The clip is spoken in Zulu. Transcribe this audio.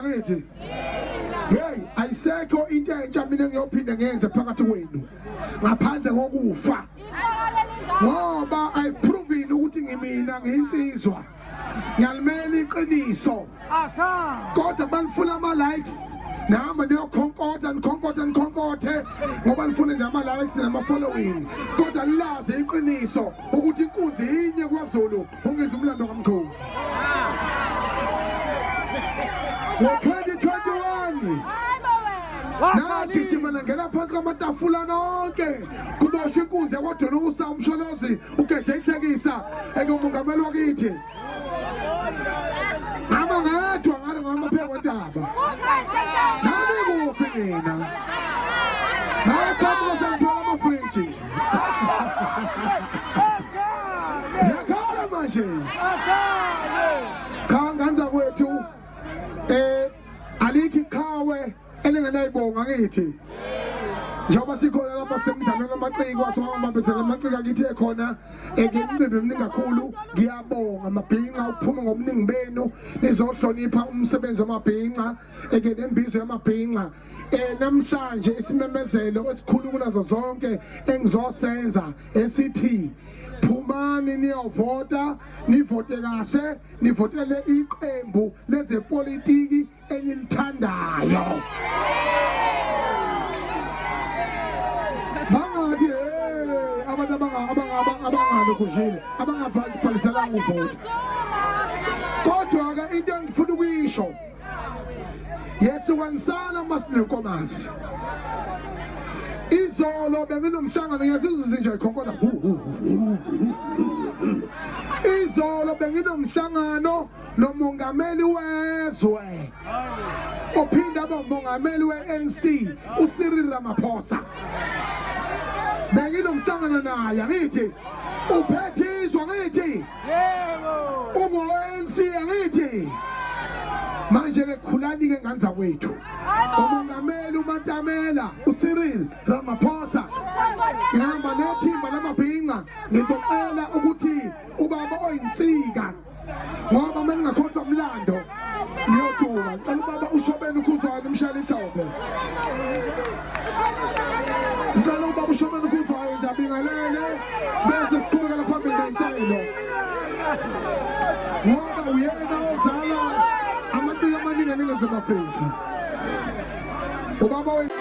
bakithi hey ayisekho into entsha mina ngiyophinde ngenze phakathi kwenu ngaphandle kokufa ngoba i proving ukuthi ngimina ngiyinsizwa ngiyalimela iqiniso kodwa balifuna ama likes nihamba niyokhonkotha nikhonkothe nikhonkothe ngoba nifune nje ama-likes nama-following kodwa lilazi iqiniso ukuthi inkunzi yinye kwazulu Ungizwa umlando kamkhulu. Ngo-2021 nagijima nangena phansi kwamatafula nonke kuboshwa inkunzi yakwadonusa umsholozi ugedle ihlekisa engumongameli wakithi ngama ngedwa ngale ngamaphekotaba nami kuphi mina ziyakhala manje cha ngane zakwethu eh alikho iqhawe elingenayibonga ngithi njengoba sikhona lapha semdlalweni amaciko asibambambisela amaciko akithi ekhona ngimcimbi mningi kakhulu ngiyabonga amabhinca ukuphuma ngobuningi benu nizohlonipha umsebenzi wamabhinca eke nembizo yamabhinca eh namhlanje isimemezelo esikhulu kunazo zonke engizosenza esithi phumani niyovota nivote kahle nivotele iqembu lezepolitiki enilithandayo bangathi hey abantu abangalokujile abangabhaliselanga uvota kodwa-ke into engifuna ukuyisho yehlukanisana uma sinenkomazi izolo benginomhlangano ngiyazizuzi nje khokona izolo benginomhlangano nomongameli wezwe ophinde abe umongameli we-nc ucyril ramaphosa benginomhlangano naye angithi uphethe izwa ngithi ungu-anc angithi manje-ke khulani-ke ngane zakwethu umongameli umatamela ucyril ramaphosa ngihamba nethimba lamabhinca ngizocela ukuthi ubaba oyinsika ngoba uma ningakhohlwa mlando Ngiyoduka ngicela ubaba ushobeni ukhuzwana umshayela ihlombe. Ngicela ubaba ushobeni ukhuzwana nje abingalele bese siqhubekela phambili ngenhlelo. Ngoba uyena ozala amaciko amaningi eNingizimu Afrika. Ubaba wethu